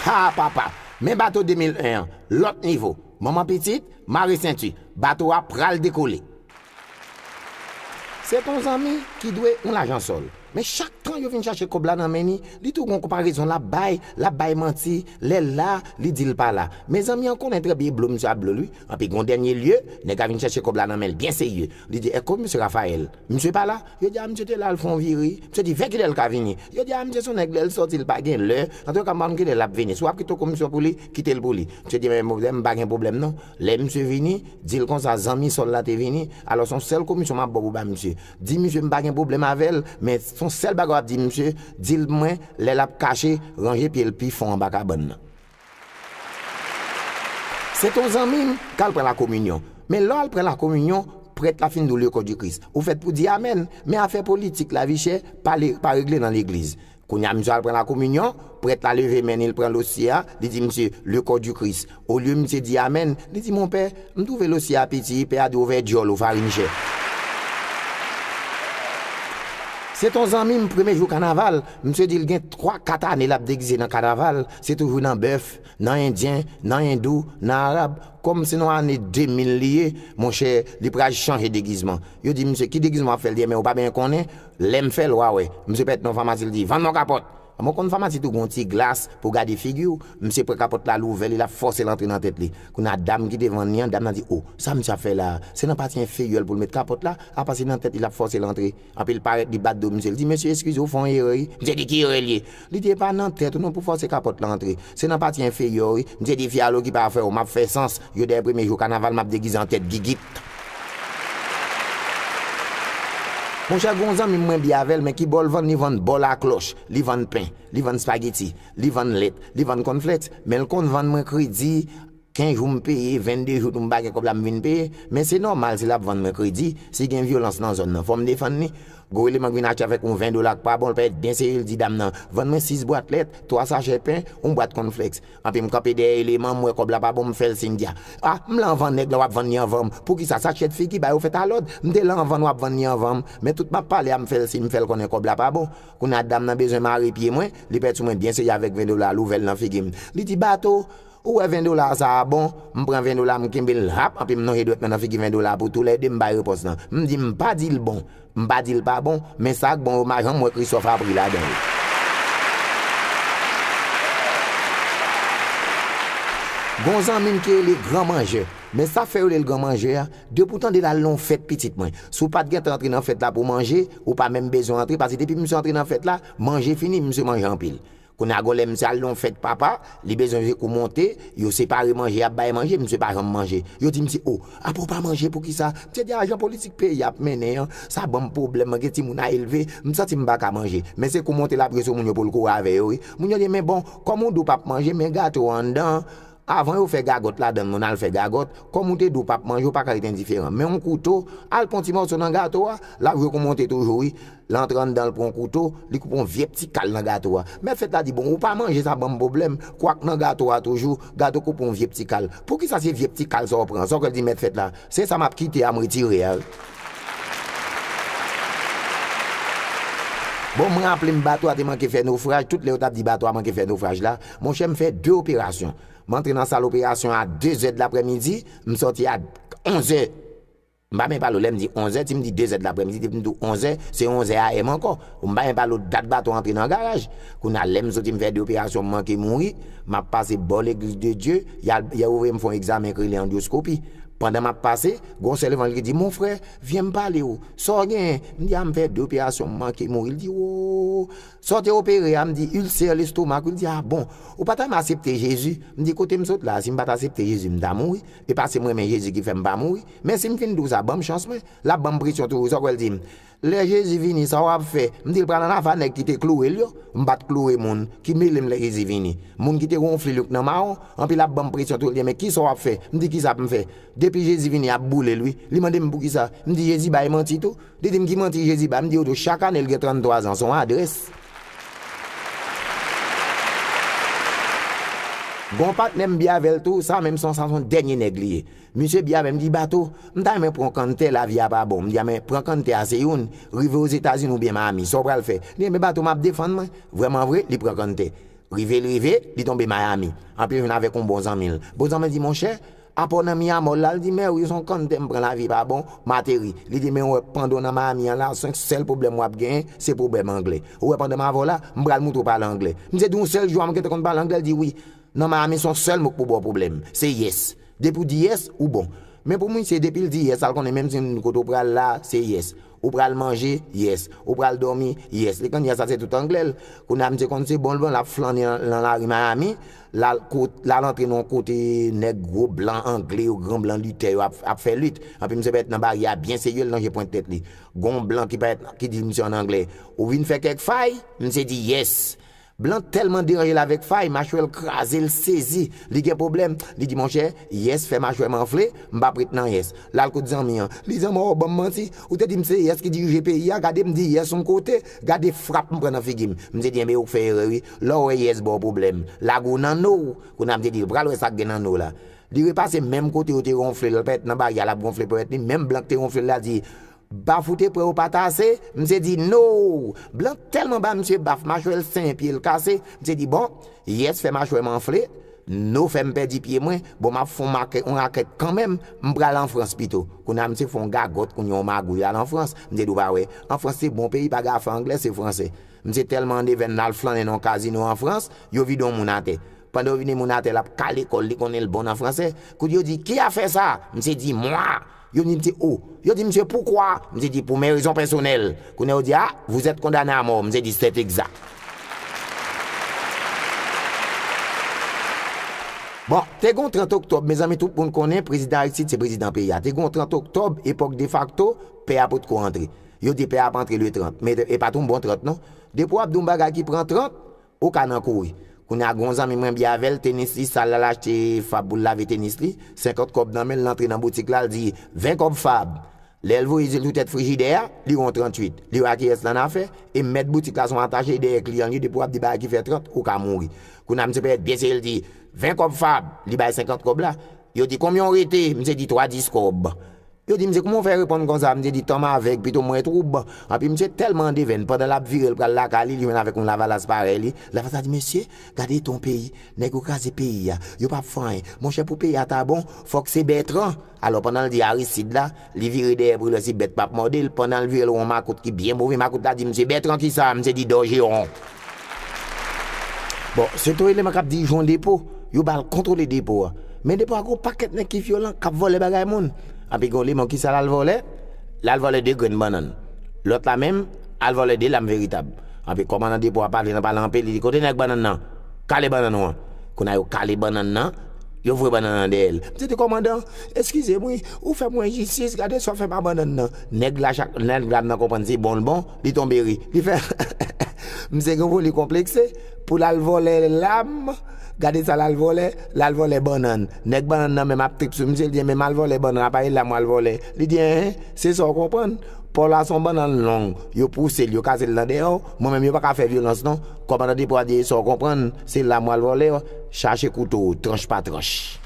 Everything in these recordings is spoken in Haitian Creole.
Haa papa! Men bato 2001 an, lòt nivo! Manman pitit, mare senti, bato a pral dekole! Se pa yon zanmi ki dwe yon lajan sòl. Men chak tan yo vin chache kòb la nan men li, li tou gon konparezon lap bay, lap bay manti, lèl la, li dil pa la. Men zanmi an konnen trè bye blo misye ap blol wi. Anpi gon dènye lye, nèg la vin chache kòb la nan menl byen serye. Li di, Èko mesye Raphaël? Misye pa la? Yo di, A misye te la al fè yon vire. Misye di, Vè kilèl ka vini? Yo di, A misye son nèg lèl sòti li pa gen lè. Antouka m pa konn kilè lap vini. Si wap kite kòmisyon pou li, kitel pou li. Misye di, Anben mwen menm m pa gen pwoblèm non. Lè misye vini, di l konsa, zanmi Sòl la te vini, alò s on sèl komisyon m ap ba w pou w ba misye. Di misye m pa gen pwoblèm avè l, men s on sèl bagay w ap di misye, di l mwen, lè l ap kache, ranje pye l pi fon anba kabann nan. Se ton zanmi m k al pran lakominyon. Men lè w al pran lakominyon, prèt la fin di w Lekòdikris. Ou fèt pou di amèn, men afè politik, lavichè, pa regle nan legliz. Kounye a, misye al pran lakominyon, prèt la leve men li, l pran losye a, li di misye, Le kò di Kris. Olye misye di amèn, li di, Monpè, m twouve losye a piti, pè a di ovè dyòl ou, farin jè. Se t on zanmi m premye jou kanaval, misye di l gen twa, kat ane l ap degize nan kanaval, se toujou nan bèf, nan endyen, nan endou, nan arab, kòm se nan ane 2000 li ye, monchè, li pral chanje degizman. Yo di misye, Ki degizman w ap fè? L di, Enben, ou pa benyen konnen, Lèm fèl wa wè misye pèt non famasi li di vann mwen kapòt mwen konn famasi tou gon ti glas pou gade figiw misye pran kapòt la louvè li lap fòsel antre nan tèt li kounya dam ki te vann li an dam nan di oh sa misye ap fè la se nan pati enferyèl poul met kapòt la apa se nan tèt li lap fòsel antre anpil parèt li bat do misye li di mesye eskize ou fè yon erè wi misye di ki erè liye Li te pa nan tèt ou non pou fòse kapòt lan antre. Se nan pati enferyè w wi. M se defi alo ki pa fè w. M ap fè sans. Yo dèyè premye jou kanaval m ap degize an tèt gigit. Monchè gon zanmi m mwen bi avè l men ki bò l vann li vann bò laklòch. Li vann pen. Li vann spageti. Li vann lèt. Li vann kònflèks. Men l konn vann mwen kredi. 15 jou m peye, 22 jou tou m pa gen kòb la m vin peye, men se nòmal si l ap vann mwen kredi, si gen vyolans nan zòn nan fò m defann li. Gwo eleman k vin achte avèk yon 20 dola k pa bon l pèt byen serye l di dam nan, vann mwen 6 bwat lèt, 3 sachè pen, yon bwat kònflèks. Anpi m kanpe dèyè eleman m wè kòb la pa bon m fè l siy di a, a m la anvan nèg la w ap vann li anvan m, poukisa sa chyèt figi ba yo fèt alòd, m te la anvan n w ap vann li anvan m, men tout m ap pale a m fè l siy m fè l konnen kòb la pa bon. Kounye a dam nan bezwen mare pye mwen, li pèt sou mwen byen serye avèk 20 dola l ouvè l nan figi m, li di bato, Ou wè 20 dola sa a bon, m pran 20 dola m kenbe l hap anpi m nonje dwèt mwen nan figi 20 dola pou tou lè 2 m bay repons lan. M di m pa di l bon, m pa di l pa bon, men sa k bon yo m pa janm wè Christophe a pri ladan yo. Gen yon zanmi m ki rele gran manjè, men sa fè yo rele l gran manjè a, depi w tande l al nan yon fèt pitit mwen, si w pa t gentan antre nan fèt la pou manje, ou pa menm bezwen antre pase depi misye antre nan fèt la, manje fini, misye manje anpil. Kounya gon lè misye al nan yon fèt papa, li bezwen vye kou monte, yo separe manje yap bay manje, misye pa janm manje. Yo di misye oh, apa w pa manje poukisa? Misye di ah jan politik peyi a ap mennen an, sa banm pwoblèm, mwen gen timoun a elve, m santi m paka manje. Men se kou monte lap jwe sou moun yo pou l kore avè yo wi. Moun yo di men bon, kòm ou di w pap manje, men gato an anndan an, Avan yo fè gagòt ladann moun al fè gagòt, kòm ou te di ou pap manje ou paka ret endiferan. Men yon kouto, al pran ti mòso nan gato a, lap jwe kou monte toujou wi, lè antre anndan l pran kouto, li koupe yon vyep ti kal nan gato a. Mèt fèt la di bon ou pa manje sa banm pwoblèm, kwak nan gato a toujou, gato koupe yon vyep ti kal. Poukisa se vyep ti kal sa ou pran, sa ou kwè l di mèt fèt la, se sa map kite a m retire a wi. Bon m raple m bato a te manke fè nofraj, tout lè yo tap di bato a manke fè nofraj la, Monchè m fè 2 operasyon. M antre nan sal operasyon a 2 zè dlaprèmidi, m sòti a 11 zè. M pa menm pale w lè m di 11 zè, si m di 2 zè dlaprèmidi depi m di w 11 zè, se 11 zè AM ankò. M pa menm pale w dat bato antre nan garaj. Kounye a lè m soti m fè 2 operasyon m manke mouri, m ap pase bò Legliz de Dye, y al y al ouvri m fè yon egzamen k rele andyoskopi. Pandan m ap pase, gen yon sè levan l ki di, Mon frè, vyen m pale w, sa w genyen? M di a m fè 2 operasyon m manke mouri. L di, Woo! Sa w te opere a, m di ulcère l'estomac wi, l di ah bon, ou pa ta renmen asepte Jezi, m di kote m sot la, si m pa ta asepte Jezi m ta mouri, e pa se m renmen Jezi ki fè m pa mouri, men si m fin di w sa, ban m chans mwen, l ap ban m presyon toujou, sa w kwè l di m, lè Jezi vini sa w ap fè, m di l pral ann ava nèg ki te kloure l yo, m pa t kloure moun ki mele m lè Jezi vini, moun ki te wonfle l yo k nan mawon, anpi l ap ban m presyon toujou, l di m men kisa w ap fè, m di kisa pou m fè, depi Jezi vini y ap boule l wi, li mande m poukisa, m di Jezi bay manti tou. Li di m ki manti Jezi bay, m di yo tou chak ane l gen 33 zan, s on adrès. Gen yon patnè m bi avè l tou, sa menm s on sa s on dènye nèg li ye. Misye bi avè m, li di Bato, m ta renmen pran yon kann tè, lavi a pa bon. M di a men, pran kann tè a se youn, rive Ozetazini oubyen Mayami, sa w pral fè? Li di enben Bato m ap defann mwen. Vrèman vre, li pran kann tè. Rive l rive, li tonbe Mayami. Anpil jounen avèk yon bon zanmi l. Bon zanmi l di monchè, Apaw nan mi amò lal di mèw yo son kann tèm pran lavi pa bon m ateri li di menw wè pandanw nan Miami an la sonk sèl pwoblèm wap gen se pwobèm anglè ou wè pandanm avèw la m pral moutrew pale anglè m se di yon sèl jou a m gentan konn pale anglè li di wi nan Miami son sèl mo k pou baw pwoblèm se yes depiw di yes ou bon men pou misye depil di yes al konnen menm si kote w pral la se yes Ou pral manje? Yes. Ou pral dòmi? Yes. Li konnya sa se tout anglè l. Konnya misye konn se bon l bon l ap flannen lan lari Miami, l al kot, l al antre nan yon kote nèg gwo blan angle yo, gran blan lite yo ap, ap fè lit. Anpi misye parèt nan baryè a byen serye l lonje pwent tèt li. Gon w blan ki parèt, ki di misye an anglè, Ou vin fè kèk fay? Misye di, Yes. Blanc tèlman deranje l avèk Faye, machwè l kraze l sezi, li gen pwoblèm, li di monchè, yes fè machwè m anfle, m pap ret nan yes. L al kot zanmi an, li di zanmi an w ban m manti, ou te di m se yes ki dirije peyi a, gade m di yes on kote, gade frap m pran nan figi m. M te di enben ou k fè erè wi, lè w wè yes ba w pwoblèm, lage w nan no w, kounye a m te di l pral wè sa k gen nan no w la. Li repase menm kote yo te ronfle l, l pa ret nan baryè a l ap ronfle ponyèt li, menm Blanc k te ronfle l la di, Baf ou te pran yo pat ase? Misye di Noo! Blan tèlman ba misye baf machwè l senyen pye l kase, misye di bon, Yes fè machwè m anfle, Noo fè m pèdi pye mwen, bon m ap fon make on rakèt kanmenm, m pral an Frans pito. Kounye a misye fè on gagòt kounye on magouy al an Frans, misye di ou pa wè, an Frans se bon peyi pa gen afè anglè se franse. Misye tèlman an devèn l al flannen nan on kazino an Frans, yo vide on moun atè. Pandan yo vide moun atè l ap kale kò l li konnen l bon nan franse, kounye yo di ki afè sa? Misye di mwa! Yo di misye oh. Yo di misye poukwa? Misye di pou men rezon pèsonèl. Kounye a yo di ah, vous êtes condamné à mort. Misye di c'est exact. Bon, te gen yon 30 oktòb, mezanmi tout moun konnen prezidan Aristide se prezidan peyi a. Te gen yon 30 oktòb, epòk defakto, pè a potko antre. Yo di pè a ap antre le 30. Men e pa t yon bon 30 non. Depi w ap di yon bagay ki pran 30, Ou ka nan kouri. Kounye a gen yon zanmi mwen byen avè l, tenis li sal l al achte Fab pou l lave tenis li, senkant kòb nan men l, l antre nan boutik la, l di, Ven kòb Fab! Lè l voye je l sou tèt frijidè a, li wè yon 38. Li wè a kiyès l annafè, e mèt boutik la se yon atache dèyè kliyan l ye, depi w ap di bagay ki fè 30, ou ka mouri. Kounye a msye Pèyèt pyese l di, Ven kòb Fab! Li bay senkant kòb la. Yo di, Konbyen w rete? Msye di, Twa dis kòb. Yo di misye kouman w fè reponn konsa, misye di tanm avèg pito mwen twoub, anpi misye tèlman andevèn pandan lap vire l pral lakay li li jwenn avèk yon lavalas parèy li, lavalas la di mesye gade eta yon peyi, nèg yo kraze peyi a, yo pap fè anyen, monchè pou peyi a ta bon fòk se Bètran, alò pandan l di Aristid la, li vire dèyè pou l wè si bèt pap mòde l, pandan l vire l yon makout ki byen move, makout la di misye Bètran kisa, misye di Dòjeron. Bon, se to eleman k ap dirije yon depo, yo ba l kontwole depo a. Men depo a gen yon pakèt nèg ki vyolan, k ap vòlè bagay moun. Anpi gen yon eleman, ki sa l al vòlè? L al vòlè 2 grenn bannann. Lòt la menm, al vòlè 2 lam veritab. Anpi kòmandan depo a pale nan pale anpe, li di, kote nèg bannann nan? Kale bannann ou an. Kounye a yo kale bannann nan, yo voye bannann nan dèyè l. Misye di, kòmandan, eskize m wi, ou fè mwen jistis, gade sa w fè m a bannann nan. Nèg la, nèg dam nan konprann se bon l bon. Li tonbe ri. Li fè heheheh. Misye gen foli konplekse pou l al vòlè lam. Gade sa l al vòlè. L al vòlè bannann. Nèg bannann nan menm ap trip sou misye. Li di enben m al vòlè bannann aparèy lam w al vòlè. Li di enhen, se sa w konprann. Paw la se yon bannann long. Yo pouse l, yo kase l nan dèyè w. Mwen menm yo pa ka fè vyolans non. Kòmandan Depot a di e sa w konprann, se lam w al vòlè. Chache kouto w, tranch pa tranch.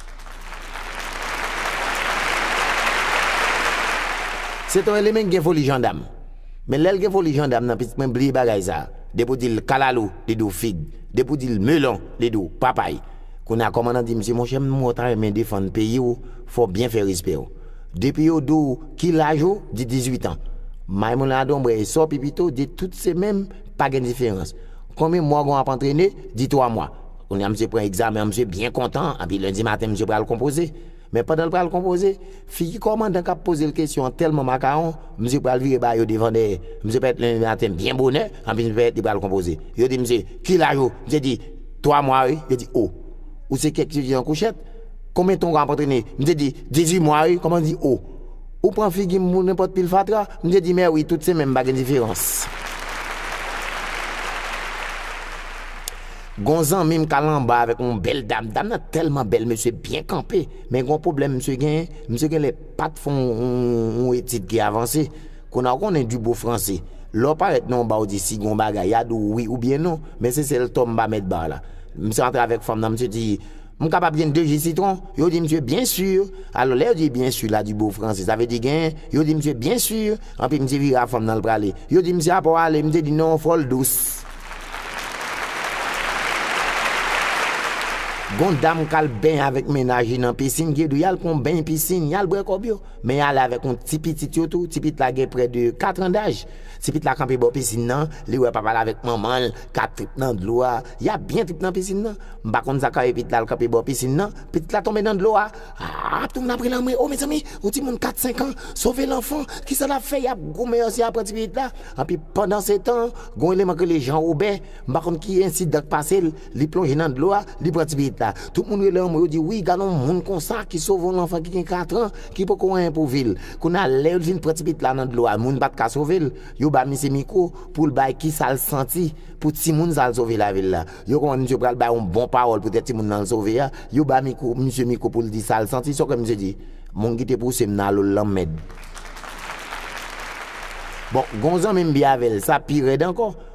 Se te yon elemen ki gen foli jandam. Men lèl gen foli jandam nan pitit mwen bliye bagay sa depi ou dil kalalou li diw fig depi ou dil melon li diw papay kounye a kòman nan di misye monchè m wè ou ta renmen defann peyiw fòw byen fè respèw depi yo diw ki laj ou di 18 ans may moun la donmbrè e sò pipito di tout se menm pa gen diferans konbyen mwa ou gon ap antrene di 3 mwa kounye a misye pran egzamen an misye byen kontan epi lendi maten misye pral konpoze. Men pandan l pral konpoze, figi kòmandan k ap poze l kesyon an tèlman makawon, misye pral vire ba yo devan dèyè. Misye parèt lendi maten byen bonè, anpi misye parèt li pral konpoze. Yo di misye, Ki laj ou? Misye di, Twa mwa wi. Yo di, O! Ou se kèk ti vye an kouchèt? Konbyen tan ou ap antrene? Misye di, Dizui mwa wi. Kòmandan di, O! Ou pran figi m pou nenpòt pil fatra? Misye di, Mè wi, tout se menm, pa gen diferans. Gon zanmim k al anba avèk yon bèl dam, dam nan tèlman bèl mesye byen kanpe men gon pwoblèm misye genyen, misye genlè pat fè yon etid ki avanse, kounye a ou konnen di bo franse lè w parèt nan yon ba ou di si gon bagay ya di w wi oubyen non men se sèl tò m pa mèt ba la, misye antre avèk fanm nan misye di. M kapab jwenn 2 ji sitwon? Yo di msye, Byen sur! Alò, lè yo di byen sur la di bo franse, sa vle di genyen? Yo di msye, Byen sur! Anpi msye vire a fon m nan l prale. Yo di msye, Apa w ale? Msye di, Non, fò l dous. Gon dam k al benyen avèk mennaj li nan pisin, ki di w y al pran beny pisin, y al bwè kòb yo. Men y ale avèk yon ti pitit yo tou, ti pitit la gen prè de katran daj. Ti pitit la kanpe bò pisin nan, li wè papa l avèk manman l. Ka trip nan dlo a. Ya byen trip nan pisin nan. M pa konn sa ka ye pitit la al kanpe bò pisin nan. Pitit la tonbe nan dlo a. Aa ap tounen apre lanmwe. O mezanmi! Yon timoun 4, 5 an sove lanfan. Ki sa l ap fè? Y ap goumen yo si y ap pran tipitit la. Anpi pandansetan, gon eleman k rele Jan Wobè. M pa konn ki ensidan k pase l. Li plonje nan dlo a. Li pran tipitit la. Tout moun rele anmwe yo di, Wi, gad yon moun konsa ki sove yon lanfan ki gen katran, ki poko anyen pou vi l. Kounye a, lè yo t vin pran tipitit la nan dlo a, moun pa t ka sove l. Yo ba misye mikro poul bay kisal santi pou timoun sal sove lavil la yo konprann misye pral bay yon bon pawòl poutèt timoun nan sove a yo ba mikro misye mikro poul di sal santi sòke misye di moun kite pousem nan lol lanmèd bon gon zanmim byen avèl sa pirèd ankò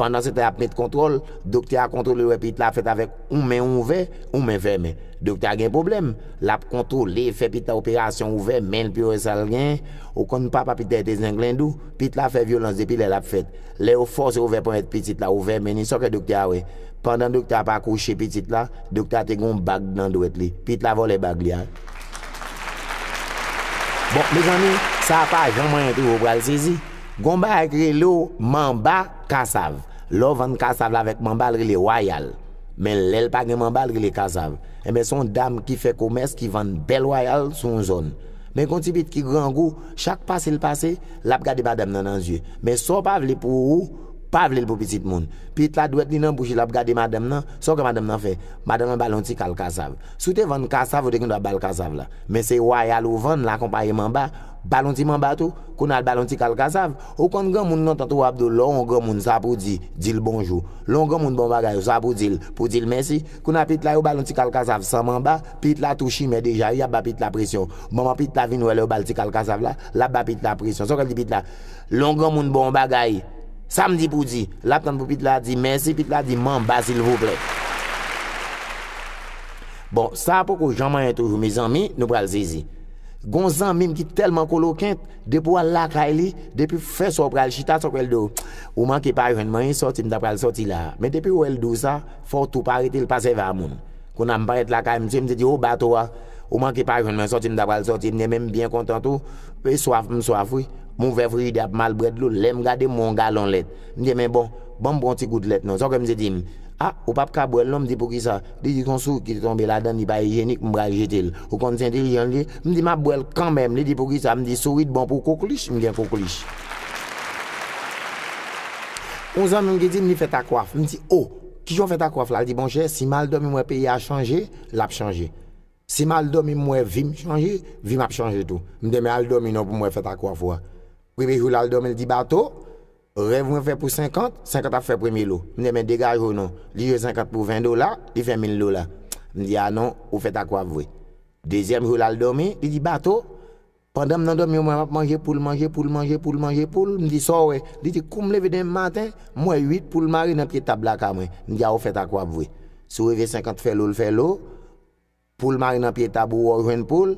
Pandan se te ap met kontwòl, doktè a kontwole wè pit la fèt avèk yon men ouvè, yon men fèmen. Doktè a gen pwoblèm. L ap kontwole, fè pit la operasyon ouvè men l pou yo wè sa l genyen. Ou konn papa pit la e te zenglendou. Pit la fè vyolans depi lè l ap fèt. Lè yo fòse ouvè ponyèt pitit la, ouvè men li, sa w kwè doktè a wè? Pandan doktè a ap akouche pitit la, doktè a te gen yon bag nan dwèt li. Pit la vòlè bag li a. Bon, mezanmi, sa a pa jan mwen entewo pral sezi. Gon bagay k relew manba kasav lèw vann kasav la avèk manba l rele wayal men lèl pa gen manba l rele kasav enben son dam ki fè komès ki vann bèl wayal sou yon zòn men gon ti pit ki grangou chak pase l pase lap gade madam nan nan zye men sa w pa vle pou ou pa vle l pou pitit moun pit la dwèt li nan bouch li lap gade madam nan sa w kwè madam nan fè madam nan bal yon ti kal kasav si w te vann kasav ou te gen dwa bal kasav la men se wayal ou vann l akonpaye manba Bal on ti manba tou, kounal bal on ti kal kasav, ou konn granmoun lontan tou wap do lè on granmoun sa pou di, dil bonjou, lè on granmoun bon bagay ou sa pou dil, pou dil mèsi, kounal pitit la yo bal on ti kal kasav san manba, pitit la tou chimè deja wi yap ba pitit la presyon, manman pitit la vin wè lè yo bal ti kal kasav la, lap ba pitit la presyon, sa ou kal di pitit la, lè on granmoun bon on bagay, sam di pou di, lap tann pou pitit la di mèsi, pitit la di manba silvouplè. Bon sa poko janm anyen toujou mezanmi nou pral sezi. Gon zanmim ki telman kolokent depi wal lakay li depi fè sa ou pral chita sa ou pral di w ou manke pa jwenn mwen e sòti m ta pral sòti la men depi wèl di w sa fò w tou pa rete l pa sèvi a moun kou na m parèt lakay misye misye di o bato a ou manke pa jwenn mwen sòti m ta pral sòti m renmen m byen kontan tou e swaf m swaf wi m ouvè frijidè a pou m al brè dlo lèm gade m wè yon galon lèt m di men bon banm pran yon ti gout lèt non sa w kwè misye di m a ou pap ka bwèl non m di poukisa Li di konsi ou kite tonbe ladann li pa ijyenik m pral jete l. Ou konn si entelijan l ye? M di m ap bwè l kanmenm. Li di poukisa? M di sourit bon pou koklich, m gen koklich. Yon zanmi m ki di m li fèt ak waf. M di o! Kijan w fèt ak waf la? Li di monchè si m al dòmi m wè peyi a chanje, l ap chanje. Si m al dòmi m wè vi m chanje, vi m ap chanje tou. M di men al dòmi non pou m wè fèt ak waf ou a. Premye jou l al dòmi l di bato. Rèv mwen fè pou 50, 50 ap fè premye lo. M di enben degaje w non. Li jwe 50 pou 20 dola, li fè 1000 dola. M di a non, ou fèt ak waf vre. Dezyèm jou l al dòmi, li di bato. Pandan m nan dòmi m wè m ap manje poul, manje poul, manje poul, manje poul. M di sa w wè? Li di kou m leve demen maten, m wè 8 poul mare nan pye tab lakay mwen. M di a ou fèt ak waf vre. Si w reve 50 fè lo l fè lo. Poul mare nan pye tab ou wè w jwenn poul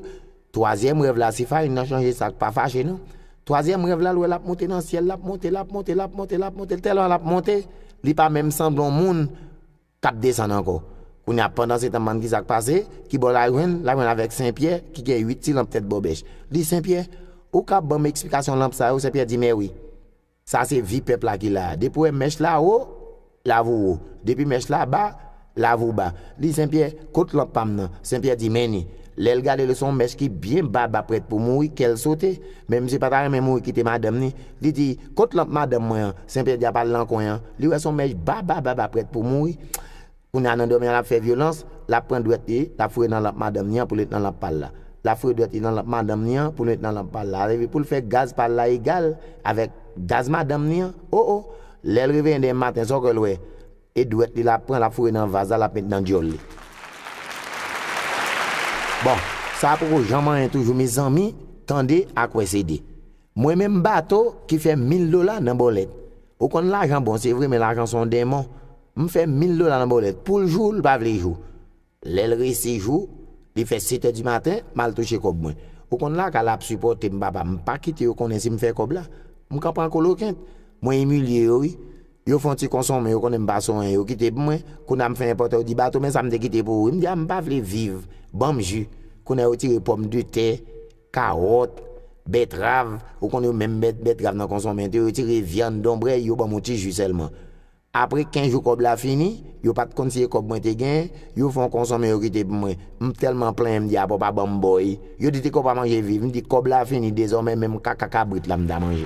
Twazyèm rèv la si farin nan chanje sak pa fache non Twazyèm rèv la l wè l ap monte nan syèl l ap monte l ap monte l ap monte l ap monte tèlman l ap monte li pa menm sanble yon moun k ap desann ankò Kounye a pandansetan bann ki sa k pase kibò l al jwenn l al jwenn avèk Senpyè ki gen uit ti lanp tèt bòbèch li Senpyè ou ka ban m esplikasyon lanp sa yo Senpyè di mèwi. Sa se vi pèp la ki la a. Depi w wè mèch la wo, lav ou wo. Depi mèch la ba, lav ou ba. Li Sen Pyè, kot lanp pa m nan? Sen Pyè di, Men ni. Lè l gade l se yon mèch ki byen ba ba prèt pou mouri, kè l sote. Men misye pa ta renmen mouri kite madanm ni. Li di, Kot lanp madanm mwen an? Sen Pyè di, A pa l nan kwen an. Li wè se yon mèch ba ba ba ba prèt pou mouri. Kounya nan dòmi a lap fè vyolans, lap pran dwèt li, lap foure nan lanp madanm ni an poul met nan lanp pal la. Lap foure dwèt li nan lanp madanm ni an poul met nan lanp pal la. Epi poul fè gaz pal la egal avèk gaz madanm ni an. Oh oh! Lèl reveyen demen maten sa w kwèl wè? E dwèt li lap pran lap foure nan vaz la lap met nan dyòl li. Bon, sa poko janm anyen toujou mezanmi, tande ak wè se 2. Mwen menm bato ki fè mil dola nan bòlèt. Ou konn lajan bon se vre men lajan son denmon. M fè mil dola nan bòlèt poul jou l pa vle jou. Lèl resi jou, li fè setè di maten, m al touche kòb mwen. Ou konn lakay la ap sipòte m papa m pa kite yo konnen si m fè kòb la. M ka pran kolokent. Mwen imilye yo wi. Yo fon ti konsonmen yo konnen m pa soen yo kite pou mwen. Kounye a m fè enpòtè yo di bato men sa m te kite pou ou wi. M di a m pa vle viv. Banm ju. Kounye a yo tire pòm de tè. Kawòt, bètrav, ou konn yo menm mèt bètrav nan konsonmèt yo, yo tire vyann, donbrèy, yo ban m yon ti ji sèlman. Apre 15 jou kòb la fini, yo pa t konn si e kòb mwen te genyen, yo fè yon konsonmen yo kite pou mwen. M tèlman plenyen m di apa w pa ban m bò e. Yo di te kòb pa manje viv, m di kòb la fini dezòmè menm kaka kabrit la m ta manje.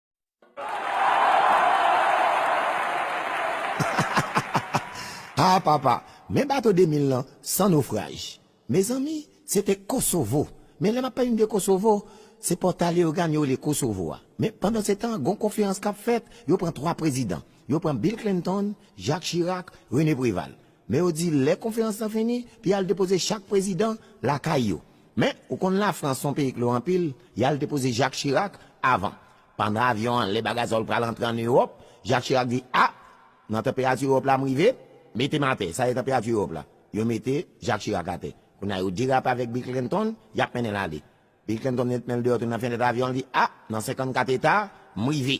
Hahahaha ah papa men bato 2000 lan san nofraj mezanmi se te kosovo men lè map pale de kosovo se pòta leogàn yo rele kosovo a men pandan se tan gon konferans kap fèt yo pran 3 prezidan yo pran bill clinton jacques chirac rené preval Men yo di lè konferans lan fini, pou y'al depoze chak prezidan lakay yo. Men, ou konn Lafrans son peyi klo anpil, y'al depoze Jacques Chirac avan. Pandan avyon an lè bagazòl pral antre an Ewòp, Jacques Chirac di, a, nan tanperati Ewòp la m'rive, mete m' atè, sa se tanperati Ewòp la. Yo mete Jacques Chirac atè. Kounye a yo derape avèk Bill Clinton, y'ap mennen l'ale. Bill Clinton met men l' deyò tou nan fenèt avyon an, li di, a, nan 54 eta, m'rive.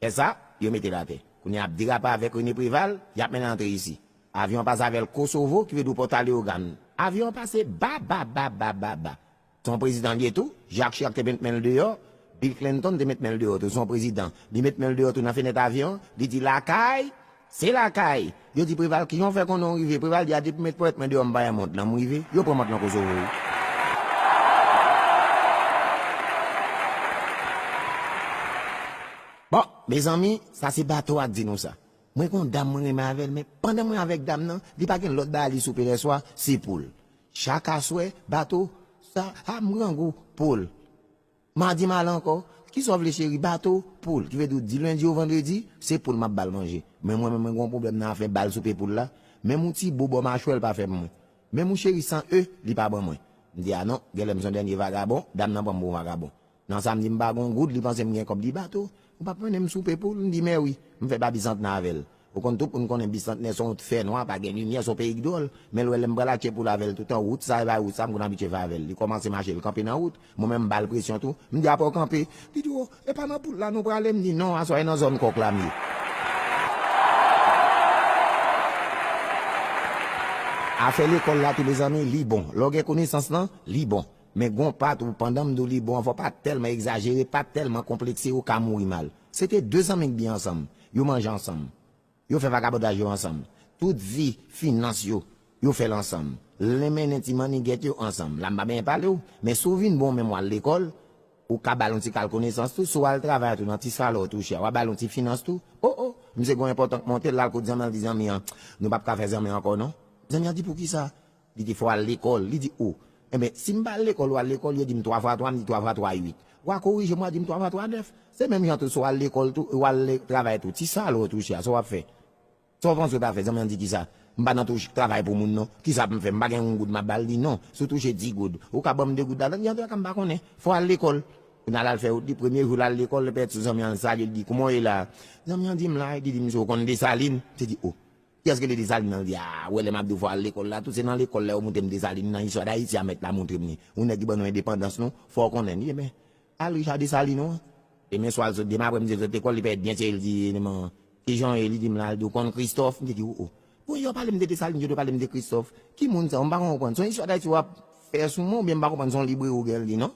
Lè sa, yo mete l atè. Kounye a ap derape avèk René Préval, y ap mennen l antre isi. Avyon an pase avè l Kosovo, ki vle di w Pòta Leyogann. Avyon an pase babababababa. Se yon prezidan l ye tou, Jacques Chirac te met men l deyò, Bill Clinton te met men l deyò tou. Se yon prezidan. Li met men l deyò tou nan fenèt avyon an, li di, Lakay! Se lakay! Yo di Preval ki jan w fè konnen w rive? Preval di a depi mèt ponyèt mwen deyò m pa wè mont lan, m rive. Yo pran mont lan Kosovo wi. Bon, mezanmi, sa se bato a k di nou sa. Mwen gen yon dam mwen renmen avè l men pandan mwen avèk dam nan, li pa gen lòt bagay li soupe lèswa, se poul. Chak aswè, bato sa ap m grangou poul. Mardi mal ankò, kisa w vle cheri bato, poul, ki vle di w di lundi ou vendredi, se poul map bal manje. Men mwen menm mwen gen yon pwoblèm nan afè bal soupe poul la, menm yon ti bo bò machwè l pa fè pou mwen. Menm yon cheri san e li pa ban mwen. M di a non, genlè m son dènye vagabon, dam nan pran m pou yon vagabon. Nan samdi m pa gen yon goud, li panse m gen kòb di bato, Ou pap manem soupe poul m di mèwi. M fè pa bisantnè avèl. Ou konn tout moun konnen bisantnè son t fè nwa pa gen limyè son peyi k dwòl. Men l wè lèm pral atche poul avèl toutan wout sa e bay wout sa m konn abitye fè avèl. Li kòmanse mache l kanpe nan wout. Mwen menm m bal presyon tou. M di apaw kanpe. Li di oh e pa nan poul la nou prale m di non aswè e nan zòn kòk la m ye. Afè lekòl la tou mezanmi li bon. Lè w gen konesans lan li bon. Men gon pat ou pandanm diw li bon anvan pat tèlman egzajere pat tèlman konplekse yo ka mouri mal se te 2 zanmi k byen ansanm yo manje ansanm yo fè vagabondaj yo ansanm tout vi finans yo yo fèl ansanm len mennen ti mannigèt yo ansanm la m pa benyen palew men si w vin bon menm wal lekòl ou ka bal yon ti kal konesans tou si w al travay tou nan ti salè w touche a wa bal yon ti finans tou oh oh misye gon enpòtan k montel lal kot zanmi an li di zanmi an nou pap ka fè zanmi ankò non zanmi an di poukisa Li te fè w al lekòl. Li di, O, enben, si m pa al lekòl, ou al lekòl, yo di m twa fwa twa, m di twa fwa twa uit. W a korije m, w a di m twa fwa twa nèf. Se menm jan tou, si w al lekòl tou e w al travay tou, ti salè w touche a, sa w ap fè? Sa w panse w ta fè? Zanmi an di, Kisa? M pa nan touche, travay pou moun non. Kisa pou m fè? M pa gen yon goud m ap ba l? Li di, Non, si w touche di goud, ou ka ban m de goud ladan li? Antoulèka, m pa konnen. Fò w al lekòl. Kounye a, l al fè wout li. Premye jou l al lekòl, li pèdi sou zanmi an, li salye l, li di, Kouman w ye la a? Zanmi an di, M la a. Li di, Misye, ou konn Desalin? Misye di, O, Kiyès rele Desalin nan li a? Wè lè map di w fò al lekòl la tou se nan lekòl la yo moute m Desalin nan istwa dayiti a mèt la moutre m ni yon nèg ki ban nou endepandans nou fò w konnen ni enben al Richard Desalin ou Demen swa l sot demen aprè m di l sot lekòl li parèt byen serye l di demen kijan w ye li di m la l di w konn Kristòf m te di w o bon yo ap pale m de Desalin yo dwe pale m de Kristòf ki moun sa yo m pa konprann se yon istwa dayiti wap fè sou mwen oubyen m pa konprann se yon libreri w gen l li non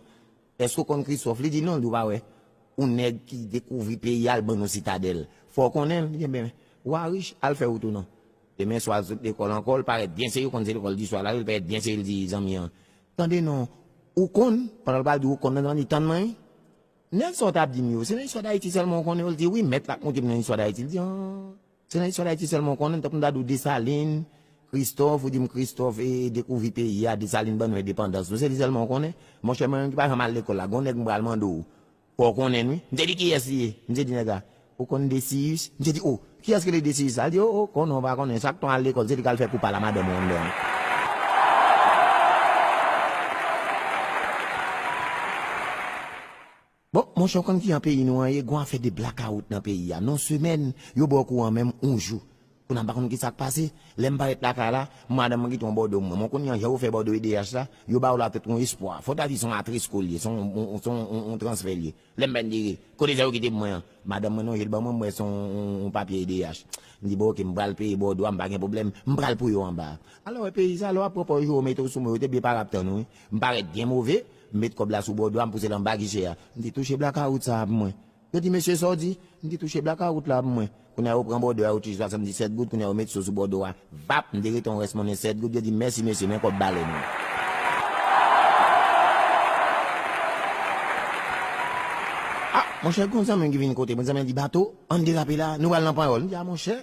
Eske w konn Christophe? Li di non, li ou pa wè yon nèg ki dekouvri peyi a al ban nou sitadèl. Fò w konnen l, li di enben ou a rich, al fè wout ou non. Demen swa l sot lekòl ankò, l parèt byen serye, w konn se lekòl di swa l ale, l parèt byen serye l di zanmi an, tande non, ou konn, pandan l pral di ou konn nan zanmi an li di tann mwen wi, nèg sa w t ap di m yo, se nan istwa Dayiti sèlman ou konnen yo? L di wi, mèt la ap montre m nan istwa Dayiti, l di an. Se nan istwa dayiti sèlman ou konnen, tankou m ta di w Desalin, Kristòf, ou di m Kristòf dekouvri peyi a, Desalin ban nou endepandans nou, se li sèlman ou konnen? Monchè mwen menm ki pa janm al lekòl la, gon nèg m pral mande w, fò w konnen n wi, misye di kiyès li ye? Misye di nèg la, ou konn Desiyis? Misye di o, kiyès ki rele Desiyis la? Li di o o, konnen w pa konnen, chak tan w al lekòl se li k al fè kou pa la madanm ou anndan an. Bon monchè ou konn ki an peyi nou an ye gon afè de blakawout nan peyi a non semèn yo baw kouran menm on jou kounye a m pa konn kisak pase lèm parèt lakay la madanm mwen kite yon bòdo mwen mwen kounye an jan yo fè bòdo edh la yo baw la tout on espwa fòw ta di son atresko l ye son on transfè l ye lèm bèn di ri kote sa yo kite pou mwen an madanm mwen lonje l ban mwen m wè son on papye edh m di bon ok m pral peye bòdo a m pa gen pwoblèm m pral pou yo anba a alò wè peyi sa lè wap pran pòz yo yo mete w sou mwen yo te byen pare ap tann ou wi m parèt byen move M met kòb la sou bò dwa m pouse l anba giche a. M di, Touche blakawout sa a pou mwen. Yo di, Mesye, sa w di? M di, Touche blakawout la pou mwen. Kounye a yo pran bòdo a, yo touche 77 goud, kounye a yo met so sou bòdo a. Vap! M derete yon rès monnen 7 goud, yo di m, Mèsi mesye, men kòb balèn ou. A! Monchè, gon zanmi m ki vin kote mwen, zanmi an di, Bato, an n derape la a, nou pral nan Panyòl. M di, A monchè!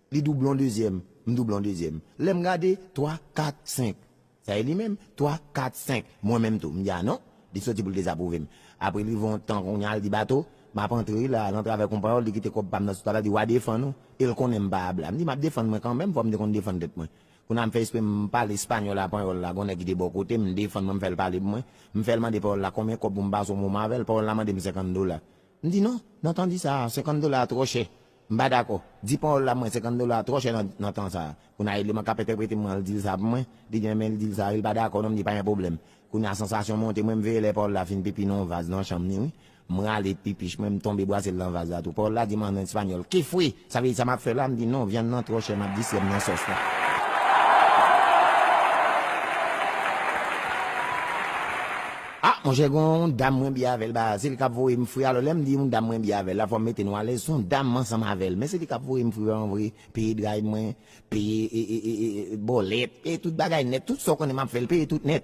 Li doublon dezyèm, m doublon dezyèm. Lè m gade, twa, kat, senk. Sa e li menm? Twa, kat, senk. Mwen menm tou. M di a non. Li soti pou l dezapwouve m. Apre li rive yon tan kounya l di Bato, m ap antre wi la a, nan travè konpayòl, li kite kòb pa m nan sou tab la, li di w a defann ou, e l konnen m pa a blan. M di m ap defann mwen kanmenm, fò m te konn defann tèt mwen. Kounya m fè espre m pale espanyòl a panyòl la, gen yon nèg ki te bò kote m, m defann mwen, m fè l pale pou mwen. M fè l mande panyòl la konbyen kòb pou m pase yon moman avè l. Panyòl la mande m senkann dola. M di non, nan tan di sa a, senkann dola a twò chè. M pa dakò. Di pawòl la mwen 50 dola twò chè nan tan sa. Kounya eleman kap entèprete m an l dil sa pou mwen, li gen men l dil sa wi l pa dakò non m di pa gen pwoblèm. Kounya sansasyon monte mwen m veye lè pawòl la fin pipi nan yon vaz nan chanm ni wi. M rale pipich mwen m tonbe bwase l nan vaz la tou. Pawòl la di m an espanyòl, Qué fue? Sa vle di sa map fè la? M di non vyann nan twò chè map distrè m nan sòs la. Ah monchè gen yon dam mwen byen avèl ba se li kap voyem fri alò lèm di yon dam mwen byen avèl la fòm mete nou alèz son dam m ansanm avèl men se li kap voyem fri vreman vre peye dray mwen peye bòlèt peye tout bagay nèt tout sa w konnen map fèl peye tout nèt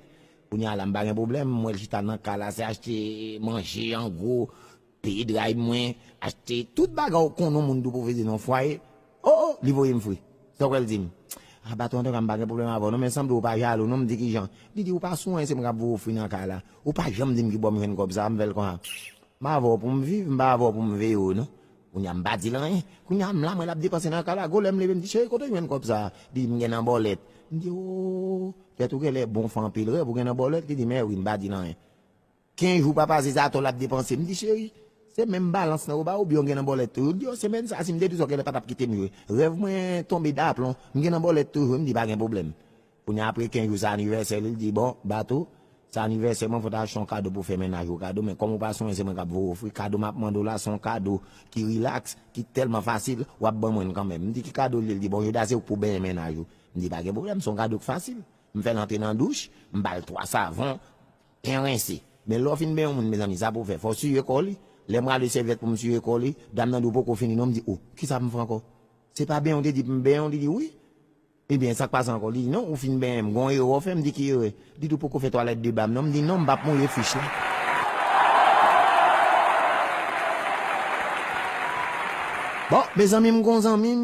kounya la m pa gen problèm m wèl chita nan kay la se achte manje an gwo Peye drive mwen achte tout bagay ou konnen yon moun dwe pwofite nan yon fwaye oh oh li voyem fre sa ou kwè l dim ah bato antouka m pa gen pwoblèm avèw non men sanble ou pa jalou non m di kijan li di ou pa sou anyen se mwen k ap voye w fri nan kay la ou pa janm dim kibò m jwenn kòb sa a m fè l konsa m avèw pou m viv m pa avèw pou m veye w non kounye a m pa di l anyen kounye a m la m wè l ap depanse nan kay la gwo lè m leve m di cheri kote w jwenn kòb sa a li di m gen nan bòlèt m di oh tèt ou genlè bon fè anpil rèv ou gen nan bòlèt li di m eh wi m pa di l anyen. Ken jou papa se sa atò lap depanse m di cheri se menm balans lan yo baw oubyen ou gen nan bòlèt tou yo di yo semèn sa sim te di sa genlè patap kitem jwe rèv mwen tonbe daplon m gen nan bòlèt tou jwe m di pa gen pwoblèm kounya apre ken jou se anivèsè li l di bon Bato se anivèsè mwen fò ta achte yon kado pou fè mennaj ou kado men kòm ou pa sonje se mwen kap voye ou fri kado map mande w la se yon kado ki rilaks ki tèlman fasil wap ban mwen l kanmenm m di ki kado l ye l di bon jodia se ou k pou benyen mennaj ou m di pa gen pwoblèm se yon kado k fasil m fè l antre nan douch m bal 3 savon Pen rense. Men lè w fin ben yon moun mezanmi sa pou w fè? Fò w siye kò li? Lè m rale sèvyèt pou m siye kò li, dam nan di w poko fini non, m di oh kisa pou m fè ankò? Se pa benyen w te di pou m benyen w? Li di wi. Ebyen sa k pase ankò? Li di non ou fin benyen m, gon erè w fè? M di ki erè? Li di w poko fè twalèt deba m non, m di non m pap mouye fich la. Bon mezanmi m gon zanmi m